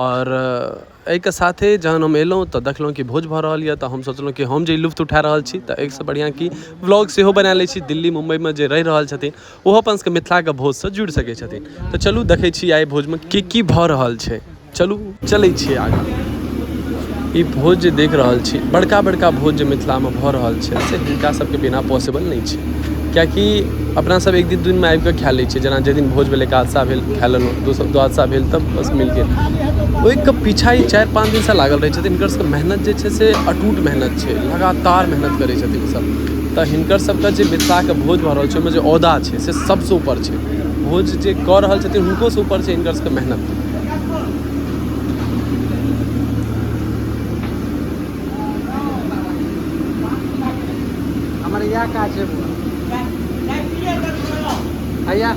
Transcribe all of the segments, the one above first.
आओर एहिके साथे जहन हम अएलहुँ तऽ देखलहुँ कि भोज भऽ रहल अइ तऽ हम सोचलहुँ कि हम जे ई लुत्फ उठा रहल छी तऽ एहिसँ बढ़िआँ कि ब्लॉग सेहो बना लै छी दिल्ली मुम्बइमे जे रहि रहल छथिन ओहो अपनसबके मिथिलाके भोजसँ जुड़ि सकै छथिन तऽ चलू देखै छी आइ भोजमे कि कि भऽ रहल छै चलू चलै छी आगाँ ई भोज जे देखि रहल छी बड़का बड़का भोज जे मिथिलामे भऽ रहल छै से हिनकासबके बिना पॉसिबल नहि छै किएकि अपना सब एक दिन दू दिनमे आबिके खाय लै छियै जेना जाहि दिन भोज भेल एकादशा भेल खाय लेलहुँ द्वादशा भेल तऽ बस मिल गेल ओइके पीछा ई चारि पाँच दिनसँ लागल रहै छथिन हिनकर सबके मेहनत जे छै से अटूट मेहनत छै लगातार मेहनत करै छथिन ई सब तऽ हिनकर सबके जे मिथिलाके भोज भऽ रहल छै ओइमे जे औदा छै से सबसँ उपर छै भोज जे कऽ रहल छथिन हुनकोसँ उपर छै हिनकर सबके मेहनत हमर इएह काज छै भैया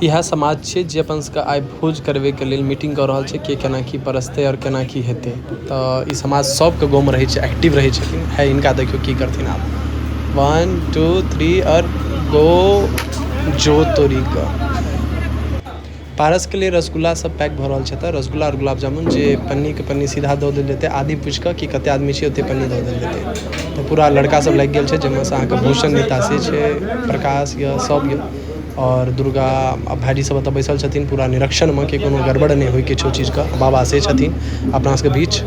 इएह समाज छियै जे अपन सबके आइ भोज करबैके लेल मीटिंग कऽ रहल छै के केना की परसतै आओर केना की हेतै तऽ ई समाज सबके गाँवमे रहै छै एक्टिव रहै छै भाय हिनका देखियौ की करथिन आब वन टू थ्री आओर गो जो तोरीके पारसके लिए रसगुल्ला सब पैक भऽ रहल छै एतऽ रसगुल्ला आओर गुलाब जामुन जे पन्नीके पन्नी सीधा दऽ देल जेतै आदमी पुछिकऽ कि कतेक आदमी छिए ओतेक पन्नी दऽ देल जेतै तऽ पूरा लड़कासब लागि गेल छै जाहिमेसँ अहाँके भूषण नितासी छै प्रकाश अइ सब अइ आओर दुर्गा आओर भाइजीसब एतऽ बैसल छथिन पूरा निरीक्षणमे कि कोनो गड़बड़ नहि होइ किछु चीजके बाबा से छथिन अपनासबके बीच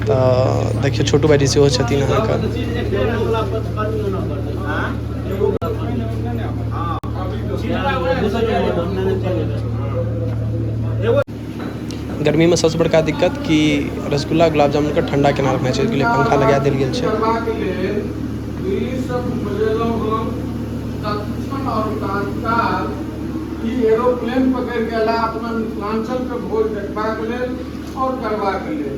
तऽ देखिऔ छोटू भाइजी सेहो छथिन अहाँके गर्मीमे सबसँ बड़का दिक्कत कि रसगुल्ला गुलाब जामुनके ठण्डा केना रखना छै ओहिके लेल पंखा लगा देल गेल छै एरोप्लेन पकड़ि कऽ एला अपना मिथिलाञ्चलके भोज देखबाक लेल आओर करबाक लेल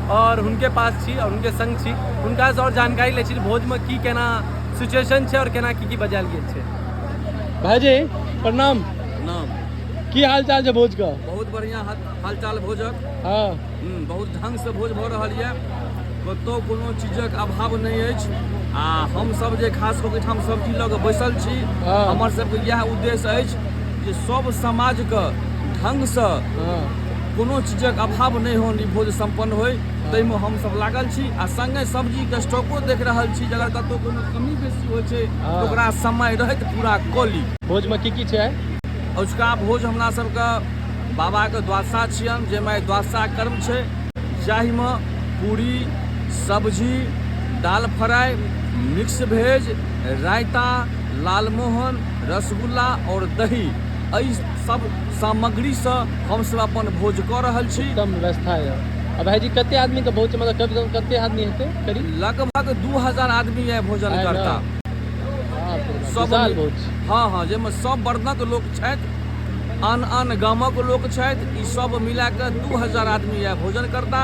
और उनके पास छी और उनके संग छी उनका और जानकारी ले छी भोज में की केना सिचुएशन छे और केना की की बजाल गेल छे भाई जी प्रणाम प्रणाम की हाल चाल छे भोज का बहुत बढ़िया हाल चाल भोजक हां हम्म, बहुत ढंग से भोज भ रहल ये कतो कोनो चीजक अभाव नहीं अछि आ हम सब जे खास करके हम सब की लग बैसल छी हाँ। हमर सब के यह उद्देश्य अछि जे सब समाज के ढंग से हाँ। कोनो चीजक अभाव नहि होन ई भोज सम्पन्न होय ताहिमे हमसभ लागल छी आ सङ्गे सब्जीके स्टॉको देख रहल छी जे अगर कतहु कोनो कमी बेसी होइ छै तऽ हाँ। ओकरा समय रहैत पूरा कऽ ली भोजमे की की छै अजुका भोज हमरा सभके बाबाके द्वादशा छियनि जाहिमे आइ द्वादशा कर्म छै जाहिमे पूरी सब्जी दाल फ्राइ मिक्स भेज रायता लालमोहन रसगुल्ला आओर दही एहि सब सामग्री स हम सब अपन भोज क रहल छी। उत्तम व्यवस्था य। आ भाईजी कते आदमी के भोज छै मतलब कम से कम कते आदमी हेते करीब? लगभग दू हजार आदमी आय भोजन आय ने करता। बाप रे बाप सब विशाल मि भोज छै हँ हँ जैमे सब वर्णक लोक छैथ। आन आन गामक लोक छैथ ई सब मिला क दू हजार आदमी आय भोजन करता।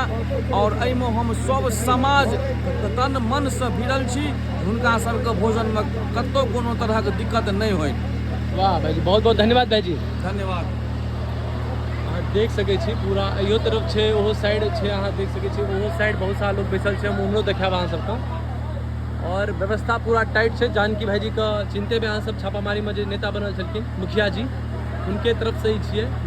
और ऐमे हम सब समाज तन मन स भिड़ल छी। हुनका सबके भोजन मे कतौ कोनो तरहक दिक्कत नै होय। वाह भाईजी बहुत बहुत धन्यवाद भाईजी धन्यवाद अहाँ देख सकै छी पूरा इहो तरफ छै ओहो साइड छै अहाँ देख सकै छी ओहो साइड बहुत सारा लोग बैसल छै हम उम्हरो देखायब अहाँ सबके और व्यवस्था पूरा टाइट छै जानकी भाईजी के चिन्ते में अहाँ सब छापामारी में जे नेता बनल छलखिन मुखिया जी हुनके तरफ से ही छियै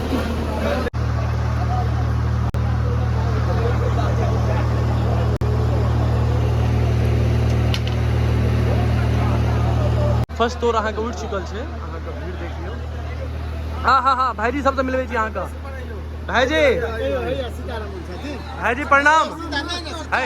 फर्स्ट तोर अहाँके उठि चुकल छै अहाँके भीड़ देख लियौ हँ हँ हँ भाईजी सबसँ मिलबै छी अहाँके भाईजी भाईजी प्रणाम है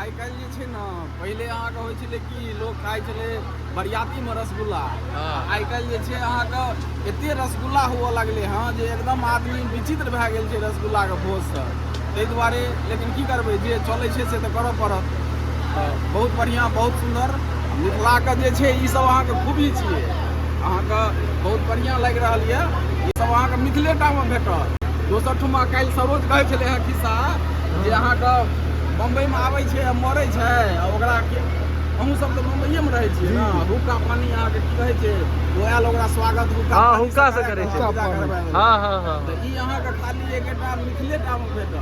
आइ काल्हि जे छै ने पहिले अहाँके होइ छलै कि लोक खाइ छलै बरियातीमे रसगुल्ला हँ। आइ काल्हि जे छै अहाँके एते रसगुल्ला हुअ लगलै हँ जे एकदम आदमी विचित्र भए गेल छै रसगुल्लाके भोजसँ ताहि दुआरे लेकिन की करबै जे चलै छै से तऽ करऽ पड़त तऽ बहुत बढ़िआँ बहुत सुन्दर मिथिलाके जे छै ई सब अहाँके खूबी छियै अहाँके बहुत बढ़िआँ लागि रहल यऽ ई सब अहाँके मिथिलेटामे भेटत दोसर ठुमा काल्हि सरोज कहै छलै हँ खिस्सा जे अहाँके बम्बइमे आबै छै आ मरै छै आ ओकरा अहूँ सब तऽ मुंबईए में रहै छियै ने हुक्का पानी अहाँके की कहै छै ओ आयल ओकरा स्वागत हुक्का हाँ, पानी हुक्का से करै छै। विदा करबै। हँ हँ हँ तऽ ई अहाँके खाली एकटा मिथिले टा मे भेटत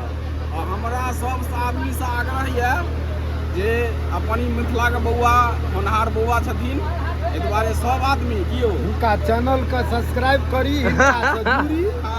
आ हमरा सब से आदमी से आग्रह यऽ जे अपन ई मिथिलाके बौआ होनहार बौआ छथिन एहि दुआरे सब आदमी की यौ हुनका चैनल के सब्सक्राइब करी हिनका से जुड़ी हँ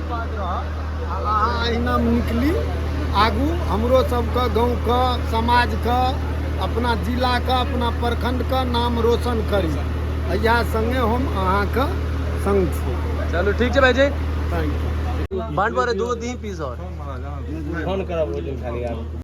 बात रहत आ अहाँ अहिना निकली आगू हमरो सबके गाँवके समाजके अपना जिलाके अपना प्रखंडके नाम रोशन करी इएह सङ्गे हम अहाँके सङ्ग छी चलू ठीक छै भाईजी थैंक यू बांट पर दो तीन पीस और फोन करब खाली आप